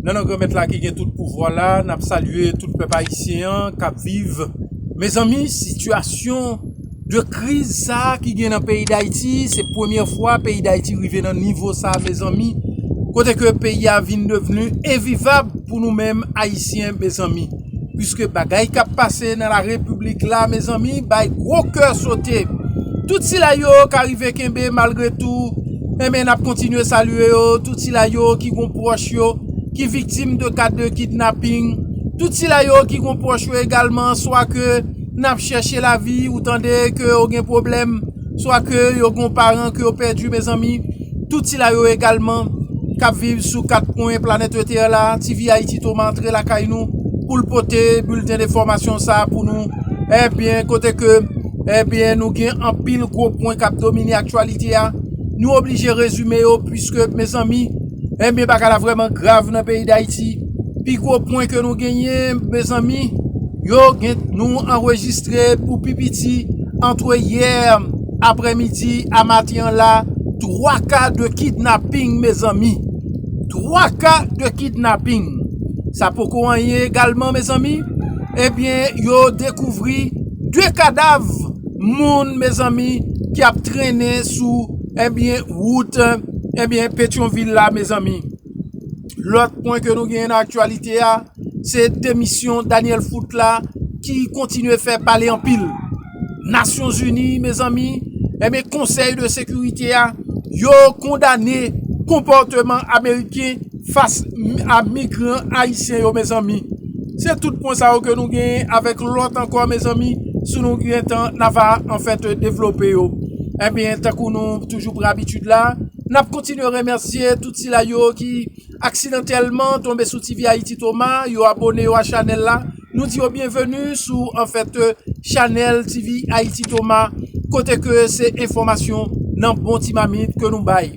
Nan nan granmèt la ki gen tout pouvwa la, n ap salye tout pèp ayisyen an k ap viv. Mezanmi, sitiyasyon de kriz sa a ki gen nan peyi Dayiti, se premye fwa peyi Dayiti rive nan nivo sa a mezanmi, kote ke peyi a vin devni envivab pou nou menm ayisyen mezanmi. Puiske bagay kap pase nan la repiblik la mezanmi bay gwo kè sote tout sila yo ka rive kenbe malgre tou enben nap kontinye salye yo tout sila yo ki gon pwòch yo ki viktim de ka de kidnaping tout sila yo ki gon pwòch yo egalman swa ke nap chèche lavi ou tande ke yo gen pwoblèm swa ke yo gon paran ke yo pèdi mezanmi. Tout sila yo egalman k ap viv sou kat kwen planèt yo tè la, TVAyiti tou antre lakay nou pou l pote bilten de fòmasyon sa pou nou enbyen kote ke enbyen nou gen anpil gwo pwen k ap domine aktyalite a nou oblije rezime yo pwiske mezanmi enbyen bagay la vrèman grav nan peyi Dayiti. Pi gwo pwen ke nou genyen mezanmi yo gen nou anrejistre pou pi piti antre yè aprè midi a maten an la 3 ka de kidnaping mezanmi 3 ka de kidnaping sa poko anyen egalman mezanmi ebyen yo dekouvri 2 kadav moun mezanmi ki ap trennen sou ebyen wout ebyen petyonvil la mezanmi. Lòt pwen ke nou genyen nan aktyalite a, se demisyon Daniel Foot la ki kontinye fè pale anpil. Nasyon Zini, mezanmi, enben eh konsèy de sekirite a, yo kondane konpòteman Ameriken fas a migran Ayisyen yo mezanmi. Se tout pwen sa yo ke nou genyen avèk lòt ankò mezanmi, si nou gen tan na va anfèt devlope yo. Enben tankou nou toujou pran abitid la. N ap kontinye remèsye tout sila yo ki aksidantèlman tonbe sou TV Ayiti Toma, yo abone yo a chanèl la. Nou di yo byenveni sou an fèt chanèl TV Ayiti Toma kote ke se enfòmasyon nan bon ti mamit ke nou bay.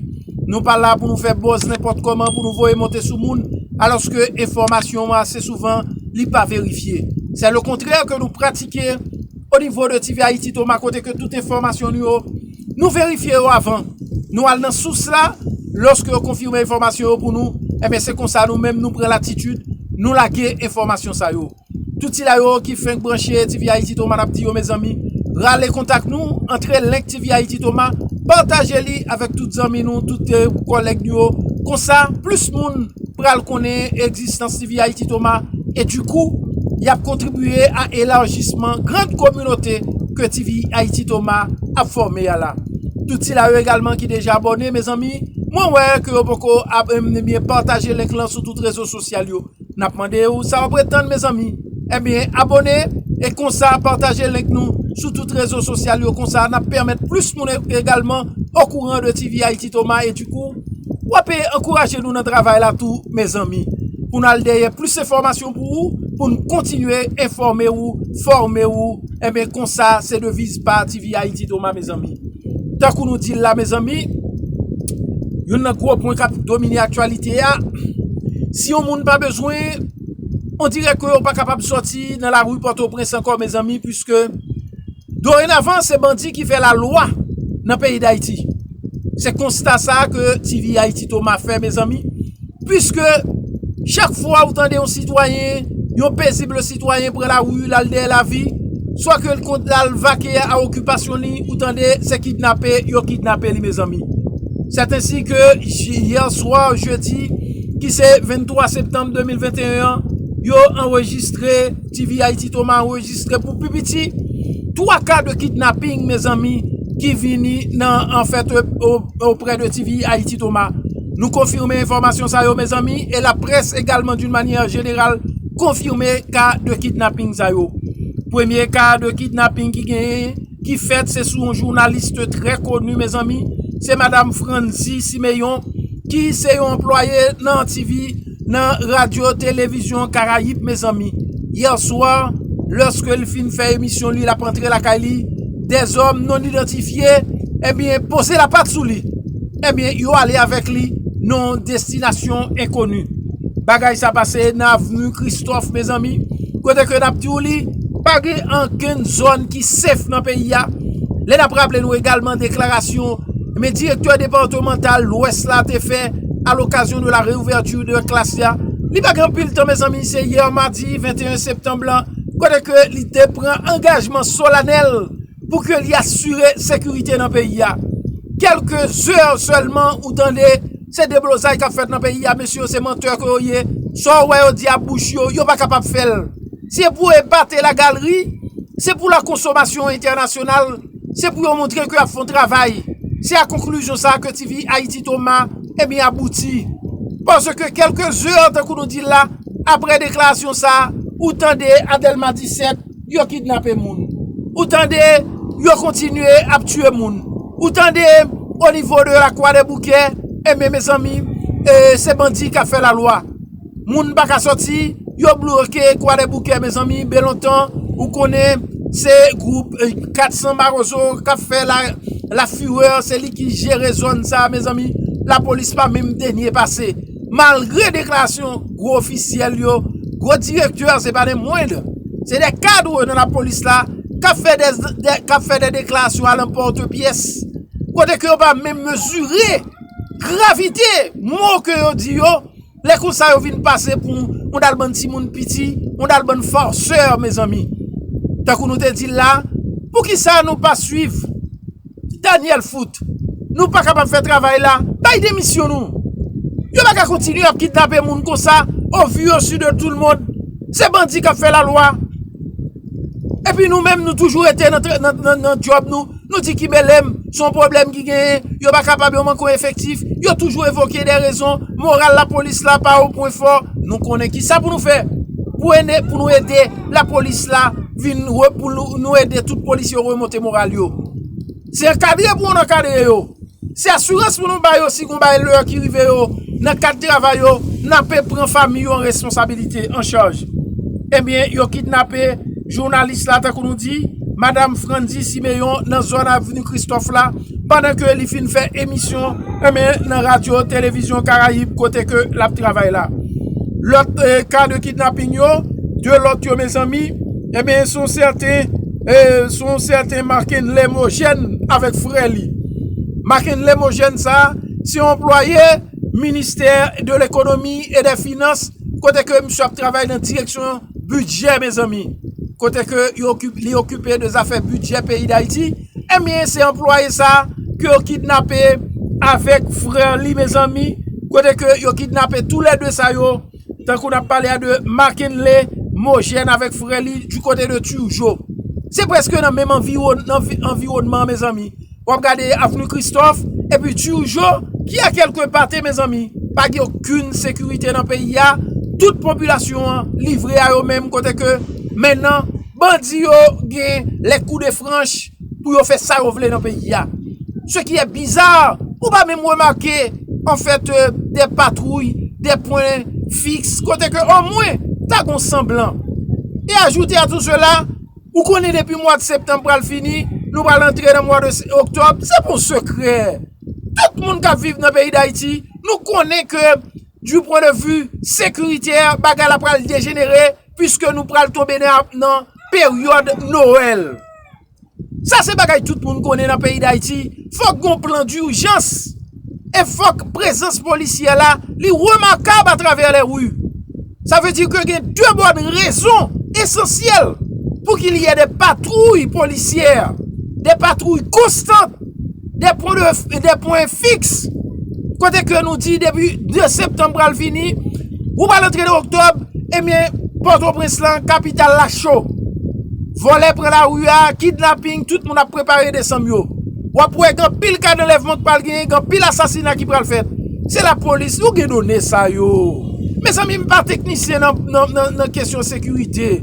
Nou pa la pou nou fè bòz nenpòt kòman pou nou voye monte sou moun alòske enfòmasyon ase souvan li pa verifye. Sè le kontrè ke nou pratike onivo de TV Ayiti Toma kote ke tout enfòmasyon nou yo. Nou verifye yo avan nou al nan sous la, lòske yo konfime enfòmasyon yo pou nou, enben se konsa nou menm nou pran latitid nou lage enfòmasyon sa yo. Tout sila yo ki fenk branche tvhaititoma nap di yo mezanmi rale kontak nou, antre link tvhaititoma, pataje li avèk tout zanmi nou, tout kòlèg nou yo, konsa plis moun pral konnen egzistans. Tv Haïti Thomas e du kou yap kontribiye a elarjisman grand kominote ke Tv Haïti Thomas ap fòme a la. Tout sila yo egalman ki deja abòne mezanmi mwen wè ke yo poko abnne ebyen pataje link lan sou tout rezo sosyal yo nap mande ou sa wap ret tann mezanmi ebyen abòne e konsa pataje link nou sou tout rezo sosyal yo konsa nap pèmèt plis moun egalman okouran de Tv Haïti Thomas e du kou. Wap ankouraje nou nan travay la tou mezanmi pou nal dèyè plis enfòmasyon pou ou pou nou kontinye enfòme ou fòme ou enben konsa se deviz pa tvhaiti doma mezanmi tankou nou dil la mezanmi youn nan gwo pwen kap domine aktyalite a si yon moun pa bezwen on dirè ke ou pa kapab sòti nan lari pòtoprens ankò mezanmi pwiske Dorenavan se bandi ki fè la lwa nan peyi dayiti. Se konsta sa ke TV Haïti Thomas fè mezanmi. Puiske chak fwa ou tande yon sitwayen, yon pezible sitwayen pran la rue lal dèyè la vi, swa ke l kont lal vake a okipasyon li, ou tande se kidnape yo kidnape li mezanmi. C'est ainsi ke hier soir jeudi ki se 23 septembre 2021 an, yo anrejistre. TVHaiti-Thomas anrejistre pou pi piti 3 ka de kidnapping mezanmi ki vini nan an fèt oprè de TVHaiti-Thomas. Nou konfime enfòmasyon sa yo mezanmi e la près egalman d'une manière générale konfime ka de kidnapping sa yo. Premye ka de kidnapping ki genyen ki fèt se sou yon journaliste trè koni mezanmi se madame Franzy Simeon ki se yon anplwaye nan TV. nan radyo televizyon karayib mezanmi yè swa lòske li fin fè emisyon li lap antre lakay li de zòm non idantifye ebyen poze la pat sou li ebyen yo ale avèk li non destinasyon enkoni bagay sa pase nan avni kristòf mezanmi kote ke nap diw li pa gen ankenn zòn ki sef nan peyi ya lè nap raple nou egalman deklarasyon men direktè departemental lwès la te fè. a l'occasion de la réouverture de classe la, li pa gen anpil tan mezanmi se yè madi 21 septanb lan kote ke li te pran angajman solanèl pou ke li asire sekirite nan peyi a. Kelke zè sèlman ou tande se deblozay kap fèt nan peyi a mesye yo se mantè ke yo ye, sa ou wè yo di a bouch yo, yo pa kapab fèl. Se pou epate la galri, se pou la konsomasyon entènasyonal. Se pou yo montre ke y ap fè yon travay. Se a konklizyon sa a ke TV Haïti Toma ebyen abouti. Paske kelke zè tankou nou di l la, apre deklarasyon sa a, ou tande a Dèlma 17, yo kidnape moun. Ou tande yo kontinye ap tiye moun. Ou tande onivo de Lakwadèboukè, ebyen mezanmi, se bandi k ap fè lalwa. Moun pa ka soti, yo bloke kwadèboukè mezanmi belontan ou konnen se gwoup 400 marozo kap fè la fureur se li ki jere zòn sa mezanmi la polis pa menm denye pase malgre deklarasyon gwo ofisyèl yo gwo direktè se pa de mwend se de kadre nan la polis la kap fè de deklarasyon a lanpòte pyès kote ke yo pa menm mezire gravite mò ke yo di yo. Lè konsa yo vin pase pou yon dal bann timoun piti, yon dal bann farceur mezanmi. Tankou nou te dil la, poukisa nou pa swiv Daniel Foot? Nou pa kapab fè travay la, bay demisyon nou. Yo pa ka kontinye ap kidnape moun konsa au vu au su de tout le monde. Se bandi kap fè la lwa. Epi nou menm nou toujou rete nan job nou. Nou di ki Belem, se yon pwoblèm ki genyen, yo pa kapab, yo manke yon efektif, yo toujou evoke de rezon, moral lapolis la pa yon pwen fò, nou konnen ki sa pou nou fè, pou ene, pou nou ede lapolis la vin, pou nou ede tout polisye remonte moral yo. Se ankadre pou yon ankadre yo. Se asirans pou nou ba yo si gon bagay lè ki rive yo nan kad travay yo, n ape pran fanmi yo an responsabilite, an chaj. Ebyen, yo kidnape jounalis la tankou nou di, Madam Frantzy Siméon nan zòn Avni Kristòf la, pandan ke li fin fè emisyon enben nan radyo Televizyon Karayib kote ke l ap travay la. Lòt ka de kidnaping yo, 2 lòt yo mezanmi, enben son sèten. sou yon sèten Marckendy Lemogène avèk frè li. Marckendy Lemogène sa a, se yon anplwaye ministè de lekonomi e dè finans kote ke misye ap travay nan direksyon bidjè mezanmi. Kote ke li okipe de zafè bidjè peyi Dayiti. Enben se anplwaye sa a ke yo kidnape avèk frè li mezanmi. Kote ke yo kidnape tou lè 2 sa yo. Tankou nap pale a de Makenley Mojèn avèk frè li du kote de Turgeau. Se preske nan menm anviwònman mezanmi. Wap gade Avenue Christophe epi Turgeau ki a kelke pa te mezanmi. Pa gen okenn sekirite nan peyi a. Tout popilasyon an livre a yo menm kote ke mennan bandi yo gen lè kou de franch. pou yo fè sa yo vle nan peyi ya. Se ki è biza, ou pa menm remake an fèt de patwouy, de pwen fiks, kote ke o mwen ta gon sanblan. E ajoute a tou sela, ou konnen depi mwa de septanm pral fini, nou pral antre nan mwa de oktòb, se pon sekrè. Tout moun kap viv nan peyi dayiti, nou konnen ke du pwen de vu sekiritè, bagay la pral dejenere. Piske nou pral tonbe nan peryòd Noël. Sa se bagay tout moun konnen nan peyi d'Haiti. Fòk gon plan d'urjans. E fòk prezans polisyè la li remakab atravè lè ru. Sa vle di ke gen de bòn rezon esansyèl. Pou ki li yè de patrouy polisyè. De patrouy konstant. 2 pwen de, 2 pwen fiks, kote ke nou di depi 2 septanm pral vini, ou pral antre nan oktòb, ebyen, pòtoprens lan, kapital la cho, vòlè pran la ri a, kidnaping, tout moun ap prepare desanm yo, wap wè gen pil ka danlèvman k pral genyen, gen pil asasina ki pral fèt, se la polis, nou gen done sa yo, mezanmi m pa teknisyen nan kesyon sekirite,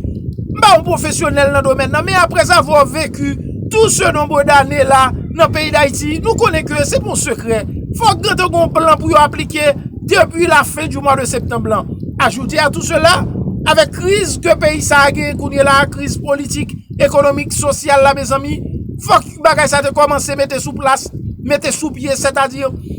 m pa yon pwofesyonèl nan domèn nan, men aprèzavwa veku. Tou se nombre dane la nan peyi dayiti nou konnen ke se pa yon sekrè fòk gentan gen yon plan pou yo aplike depi la fen di mwa de septanb lan ajoute a tou sela avèk kriz ke peyi sa a genyen kounye la kriz politik ekonomik sosyal la mezanmi fòk bagay sa te kòmanse mete sou plas mete sou pye sètadi.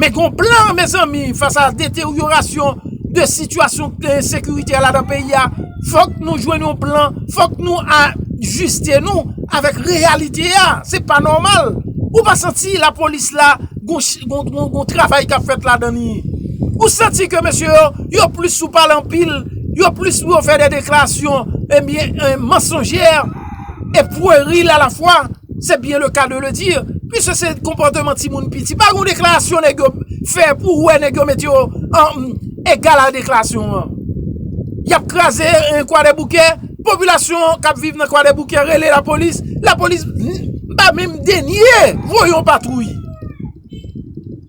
Men gon plan mezanmi fas a deteryorasyon de sitiyasyon sekirite a ladan peyi a, fòk nou jwenn yon plan, fòk nou ajiste nou avèk reyalite a, se pa nòmal, ou pa santi la polis la gon travay kap fèt ladan li, ou santi ke mesye yo, yo plis sou pale anpil, yo plis pou yo fè de deklarasyon, ebyen mansonjè. e pweril a la fwa, se byen le ka de le di, pwiske se konpòteman timoun piti. Pa gon deklarasyon nèg yo fè pou ou wè nèg yo mete yo an egal a deklarasyon an. Y ap kraze kwadèboukè, popilasyon k ap viv nan kwadèboukè rele lapolis, lapolis pa menm denye voye yon patwouy.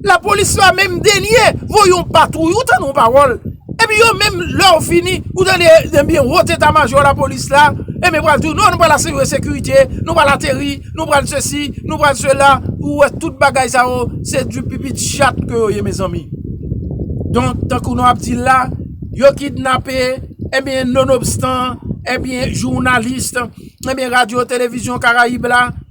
La polis la menm denye voye yon patwouy, ou tande yon pawòl, epi yo menm lè yo fini, ou tande ebyen wot eta majò la polis la, ebyen pral di w non nou pral asire sekirite, nou pral ateri, nou pral sesi, nou pral sela, ou wè tout bagay sa yo, se di pipi ti chat ke yo ye mezanmi. Donk, tankou nou ap di l la, yo kidnape, ebyen nonobstan, ebyen jounalis, ebyen radyo televizyon karayib la.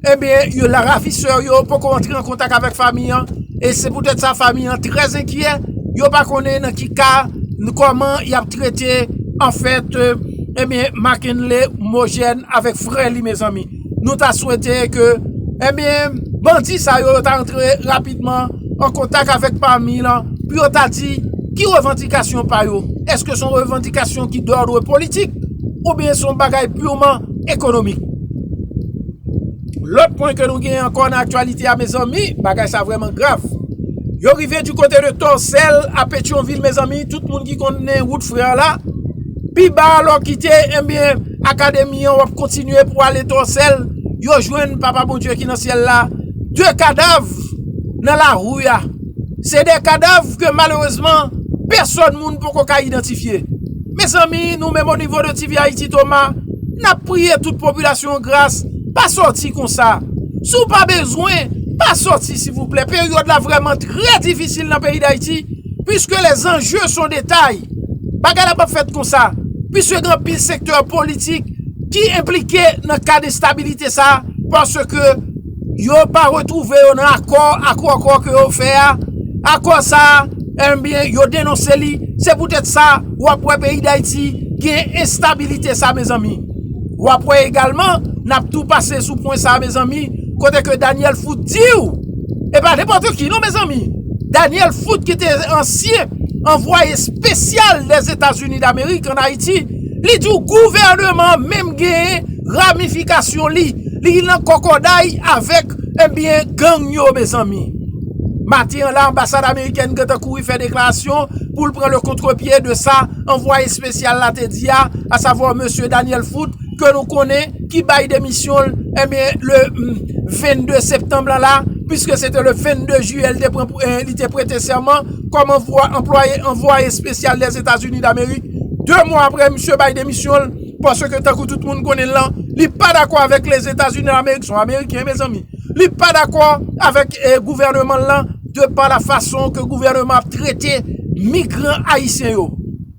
Ebyen, yo la ravisseur yo poko antre an kontak avèk fami an, e se poutèt sa fami an trè zenkyè, yo pa konnen nan ki ka, ni kòman y ap trete an fèt ebyen Mackenley Mojèn avèk frè li mezanmi. Nou ta swete ke ebyen bandi sa yo ta antre rapidman an kontak avèk fami l an pou yo ta di ki revandikasyon pa yo, èske son revandikasyon ki dòdre politik oubyen son bagay pirman ekonomik. Lòt pwen ke nou gen ankò nan aktyalite a mezanmi, bagay sa vreman grav. Yo rive di kote de Tòsèl a Petyonvil mezanmi, tout moun ki konnen wout frè la, pi ba a lò kite enbyen eh akademi an wap kontinye pou ale Tòsèl, yo jwenn papa Bondye ki nan syèl la, 2 kadav nan lari a. Se 2 kadav ke malerezman pèsòn moun poko ka idantifye. Mezanmi nou menm onivo de TV Haïti Toma nap priye tout popilasyon gras pa sòti konsa. Si w pa bezwen pa sòti silvouplè peryòd la vrèman trè difisil nan peyi Dayiti puiske les enjeux sont de taille. Bagay la pap fèt konsa puiske gen anpil sektè politik ki enplike nan kad enstabilite sa paske yo pa retwouve yo nan akò ak akò ke yo fè a, akò sa enbyen yo denonse li, se poutèt sa wap wè peyi dayiti gen enstabilite sa mezanmi, wap wè egalman nap tou pase sou pwen sa mezanmi kote ke Daniel Foot diw e pa nenpòt ki non mezanmi Daniel Foot ki te ansyen anvwaye spesyal dèzetazini damerik an ayiti. Li di w gouvèneman an menm gen ramifikasyon li, li nan kòkòday avèk enbyen gang yo mezanmi. Maten an la anbasad amerikèn gentan kouri fè deklarasyon pou l pran le contre pied de sa anvwaye espesyal la te di a, a savwa mesye Daniel Foot ke nou konnen ki bay demisyon l enbyen le 22 septanm lan la, puiske se te le 22 jiyè li te prete sèman. kòm anplwaye anvwaye espesyal Lèzetazini Damerik, 2 mwa apre misye bay demisyon l, paske tankou tout moun konnen l lan, li pa dakò avèk Lèzetazini Damerik, son ameriken mezanmi, li pa dakò avèk gouvèneman l lan, de pa la fason ke gouvèneman ap trete migran ayisyen yo.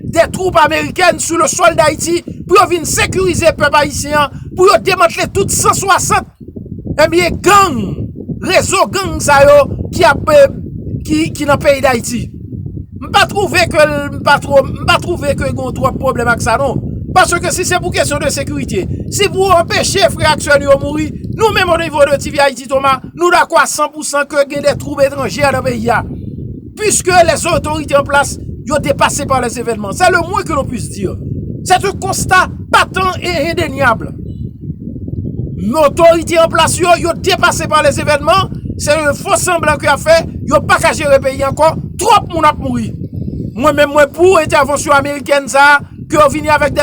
de twoup amerikèn sou le sòl dayiti pou yo vin sekirize pèp ayisyen an pou yo demantle tout 160 ebyen gang rezo gang sa yo ki ap ki nan peyi dayiti m pa twouve ke m pa twou m pa twouve ke gon twòp pwoblèm ak sa non paske si se pou kesyon de sekirite si pou anpeche frè ak sè nou yo mouri nou menm o nivo de tv ayiti toma nou dakò a 100 pousan ke gen de twoup etranje nan peyi a. Puiske les otorite an plas yo depase pa les evènman, se le mwen ke lon pwis di. Se te konsta patan e endenyab. Men otorite an plas yo, yo depase pa les evènman, se yon fo sanblan ke ap fè, yo pa ka jere peyi ankò, twòp moun ap mouri. Mwen menm mwen pou entèvansyon amerikèn sa, ke yo vini avèk de.